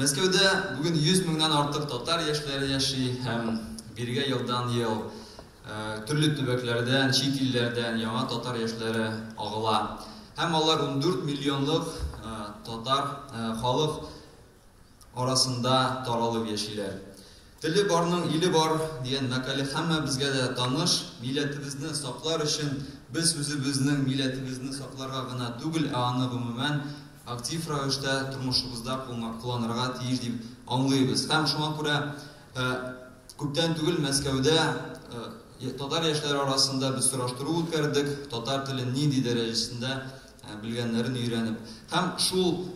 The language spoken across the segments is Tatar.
Мәскәүдә бүген 100 меңнән артык татар яшьләре яши һәм бирегә елдан-ел төрле төбәкләрдән, чит илләрдән яңа татар яшьләре агыла. Һәм алар ундүрт миллионлык татар халык арасында таралып яшиләр. Теле барның иле бар, дигән мәкале һәммәбезгә дә таныш. Милләтебезне саклар өчен без үзебезнең милләтебезне сакларга гына түгел, ә аны гомумән актив рәвештә тормышыбызда кулланырга тиеш дип аңлыйбыз. Һәм шуңа күрә күптән түгел Мәскәүдә татар яшьләре арасында без сораштыру үткәрдек, татар телен нинди дәрәҗәсендә белгәннәрен өйрәнеп һәм шул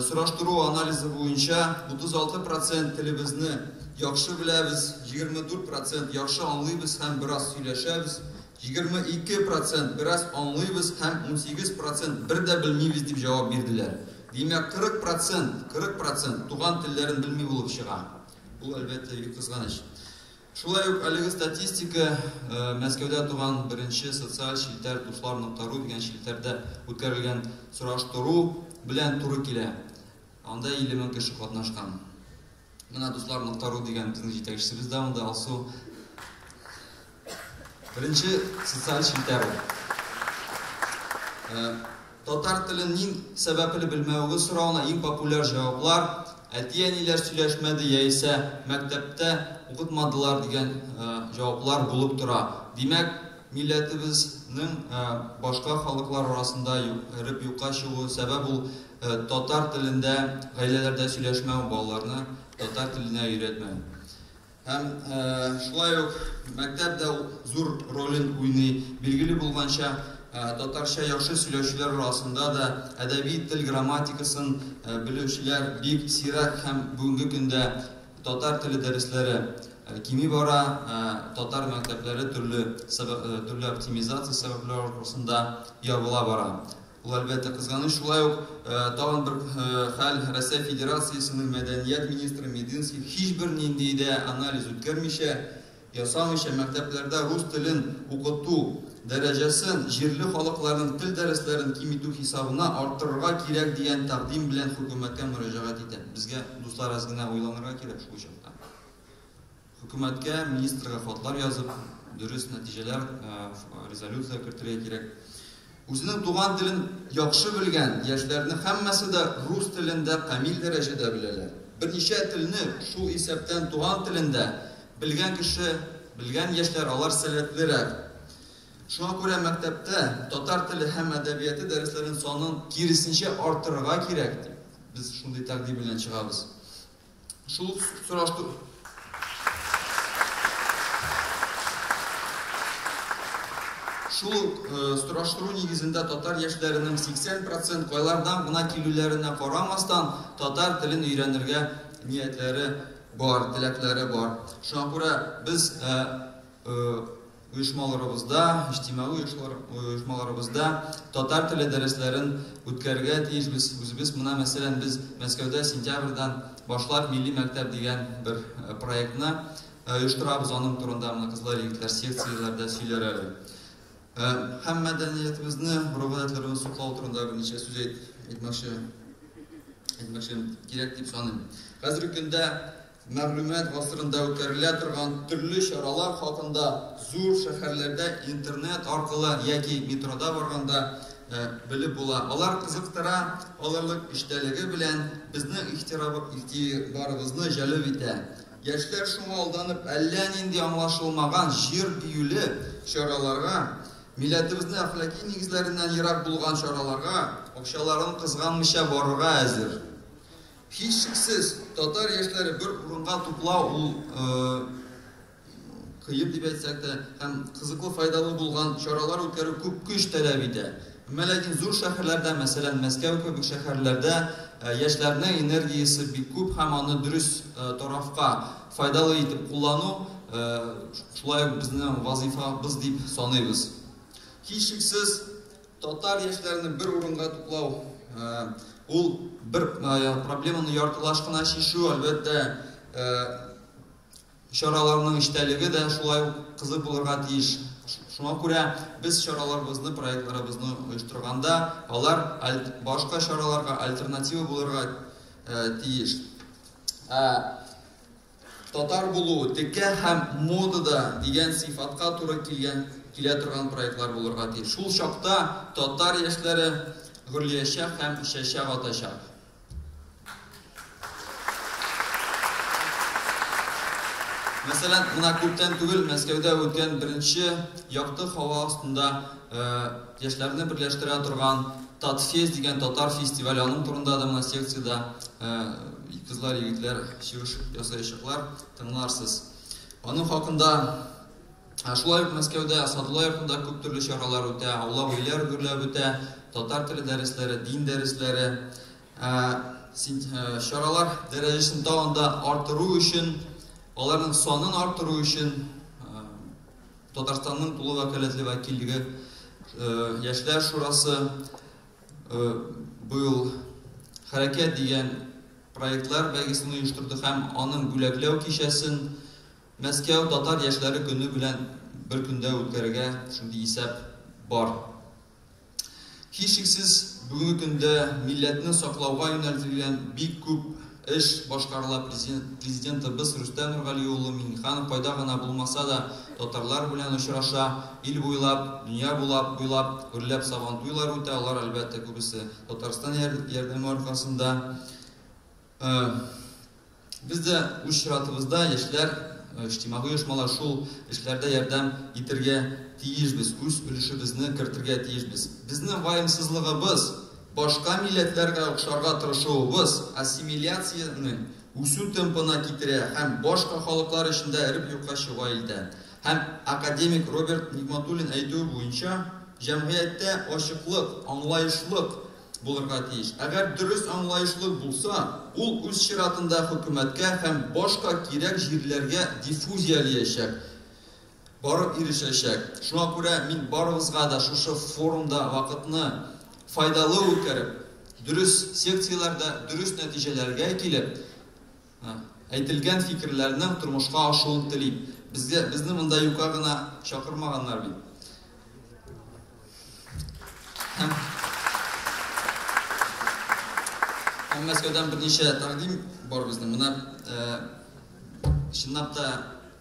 сораштыру анализы буенча 36 процент телебезне яхшы беләбез, 24 процент яхшы аңлыйбыз һәм бераз сөйләшәбез, 22 процент бераз аңлыйбыз һәм 18 процент бер дә белмибез дип җавап бирделәр. Димәк, 40 процент, 40 процент туган телләрен белми булып чыга. Бу, әлбәттә, бик кызганыч. Шулай ук әлеге статистика Мәскәүдә туган беренче социаль челтәр Дуслар нокта ру дигән челтәрдә үткәрелгән сораштыру белән туры килә. Анда 50 мең кеше катнашкан. Менә Дуслар нокта ру дигән безнең җитәкчебез дә анда Алсу. Беренче социаль челтәр ул. Татар телен ниң сәбәпле белмәвегез соравына иң популяр җаваплар, әти-әниләр сөйләшмәде яисә мәктәптә укытмадылар дигән җаваплар булып тора. Димәк, милләтебезнең башка халыклар арасында эреп юкка чыгуы сәбәп ул татар телендә гаиләләрдә сөйләшмәү, балаларны татар теленә өйрәтмәү. Һәм шулай ук мәктәп дә зур ролен уйный. Билгеле булганча, татарча яхшы сөйләүчеләр арасында да әдәби тел грамматикасын белүчеләр бик сирәк һәм бүгенге көндә татар теле дәресләре кими бара. Татар мәктәпләре төрле оптимизация сәбәпләре аркасында ябыла бара. Ул, әлбәттә, кызганыч. Шулай ук тагын бер хәл, Россия Федерациясенең мәдәният министры Мединский һичбер нинди дә анализ үткәрмичә, ясамыйча мәктәпләрдә рус телен укыту дәрәҗәсен җирле халыкларның тел дәресләрен киметү хисабына арттырырга кирәк дигән тәкъдим белән хөкүмәткә мөрәҗәгать итә. Безгә, дуслар, әз генә уйланырга кирәк шул чакта. Хөкүмәткә, министрга хатлар язып, дөрес нәтиҗәләр, резолюция кертергә кирәк. Үзенең туган телен яхшы белгән яшьләрнең һәммәсе дә рус телен дә камил дәрәҗәдә беләләр. Берничә телне, шул исәптән туган телен дә, белгән кеше, белгән яшьләр, алар сәләтлерәк. Шуңа күрә мәктәптә татар теле һәм әдәбияты дәресләрен санын киресенчә арттырырга кирәк, дип, без шундый тәкъдим белән чыгабыз. Шул сораштыру. Шул э, сораштыру нигезендә татар яшьләренең 80 процент кайлардан гына килүләренә карамастан татар телен өйрәнергә ниятләре бар, теләкләре бар. Шуңа күрә без э, э, Оешмаларыбызда, иҗтимагый оешмаларыбызда татар теле дәресләрен үткәрергә тиешбез үзебез. Менә мәсәлән, без Мәскәүдә сентябрьдән башлап милли мәктәп дигән бер проектны оештырабыз. Аның турында менә кызлар, егетләр секцияләрдә сөйләр әле. Һәм мәдәниятебезне, гореф-гадәтләребезне саклау турында берничә сүз әйтмәкче, әйтмәкче кирәк дип саныйм. Хәзерге көндә Мәгълүмат гасырында үткәрелә торган төрле чаралар хакында зур шәһәрләрдә интернет аркылы яки метрода барганда белеп була. Алар кызыктыра, алырлык эчтәлеге белән безнең игътибарыбызны җәлеп итә. Яшьләр шуңа алданып әллә нинди аңлашылмаган җыр биюле чараларга, милләтебезнең әхлаки нигезләреннән ерак булган чараларга акчаларын кызганмыйча барырга әзер. Һичшиксез, татар яшьләре бер урынга туплау ул кыен дип әйтсәк тә, һәм кызыклы, файдалы булган чаралар үткәрү күп көч таләп итә. Әмма ләкин зур шәһәрләрдә, мәсәлән, Мәскәү кебек шәһәрләрдә яшьләрнең энергиясе бик күп һәм аны дөрес тарафка файдалы итеп куллану шулай ук безнең вазыйфабыз дип саныйбыз. Һичшиксез, Татар яшьләрен бер урынга туплау, ул бер проблеманы яртылаш кына чишү, әлбәттә, чараларның эчтәлеге дә шулай ук кызык булырга тиеш. Шуңа күрә без чараларыбызны, проектларыбызны оештырганда, алар башка чараларга альтернатива булырга тиеш. Татар булу, текә һәм модада дигән сыйфатка туры килгән килә торган проектлар булырга тиеш. Шул чакта татар яшьләре гөрлиячәк һәм чәчәк атачак. Мәсәлән, менә күптән түгел Мәскәүдә үткән беренче якты һава астында Яшьләрне берләштерә торган Татфест дигән татар фестивале, аның турында да менә секциядә кызлар, егетләр чыгыш ясаячаклар, тыңларсыз. Аның хакында шулай ук Мәскәүдә, Садулла йортында күп төрле чаралар үтә, аулак өйләр гөрләп үтә, татар теле дәресләре, дин дәресләре. Чаралар дәрәҗәсен тагын да арттыру өчен, аларның санын арттыру өчен Татарстанның тулы вәкаләтле вәкиллеге Яшьләр шурасы быел Хәрәкәт дигән проектлар бәйгесен оештырды һәм аның бүләкләү кичәсен Мәскәү татар яшьләре көне белән бер көндә үткәрергә шундый исәп бар. Һичшиксез, бүгенге көндә милләтне саклауга юнәлтелгән бик күп эш башкарыла, Президентыбыз Рөстәм Нургали улы Миңнеханов кайда гына булмаса да, татарлар белән очраша, ил буйлап, дөнья булап буйлап гөрләп Сабантуйлар үтә, алар, әлбәттә, күбесе Татарстан ярдәме аркасында. Э, без дә үз чиратыбызда яшьләр э, иҗтимагый оешмалар шул эшләрдә ярдәм итергә тиешбез, үз өлешебезне кертергә тиешбез. Безнең ваемсызлыгыбыз, башка милләтләргә охшарга тырышуыбыз ассимиляцияне үсү темпына китерә һәм башка халыклар эчендә эреп юкка чыга илдә. Һәм академик Роберт Нигматуллин әйтүе буенча, җәмгыятьтә ачыклык, аңлаешлык, булырга тиеш. Әгәр дөрес аңлаешлы булса, ул үз чиратында хөкүмәткә һәм башка кирәк җирләргә диффузиялиячәк, барып ирешәчәк. Шуңа күрә мин барыгызга да шушы форумда вакытны файдалы үткәреп, дөрес секцияләрдә дөрес нәтиҗәләргә килеп, Әйтелгән фикерләрнең тормышка ашуын телим. Безгә, безне монда юка гына чакырмаганнар бит. Һәм, һәм Мәскәүдән берничә тәкъдим бар безнең. Менә э, чынлап та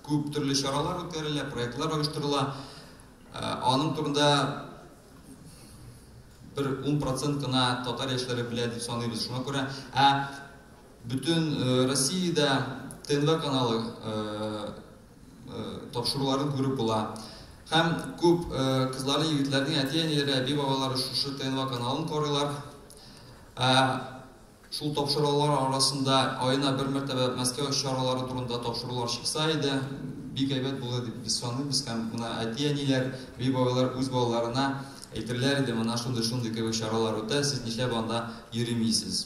күп төрле чаралар үткәрелә, проектлар оештырыла. Э, аның турында бер 10% кына татар яшьләре белә дип саныйбыз. Шуңа күрә, ә Бөтен Россиядә ТНВ каналы тапшыруларын күреп була. Һәм күп кызларны, егетләрне әти-әниләре, әби-бабалары шушы ТНВ каналын карыйлар. Ә шул тапшырулар арасында аена бер мәртәбә Мәскәү чаралары турында тапшырулар чыкса иде, бик әйбәт булыр дип без саныйбыз һәм менә әти-әниләр, әби-бабалар үз балаларына әйтерләр иде, менә шундый-шундый кебек чаралар үтә, сез нишләп анда йөримисез?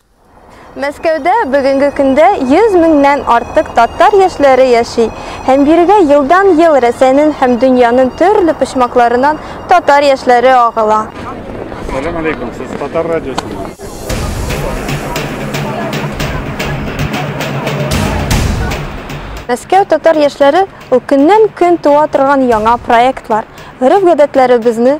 Мәскәүдә бүгенге көндә 100 меңнән артык татар яшьләре яши, һәм бирегә елдан-ел Рәсәйнен һәм дөньянын төрле почмакларынан татар яшьләре агыла. Салям алейкум, сез Татар радиосымы? Мәскәү татар яшьләре ул көннән-көн туа торган яңа проектлар, гореф-гадәтләребезне,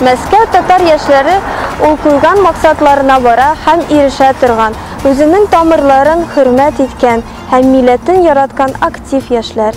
Мәскәү татар яшьләре ул куйган максатларына бара һәм ирешә торган, үзенең тамырларын хөрмәт иткән һәм милләтен яраткан актив яшьләр.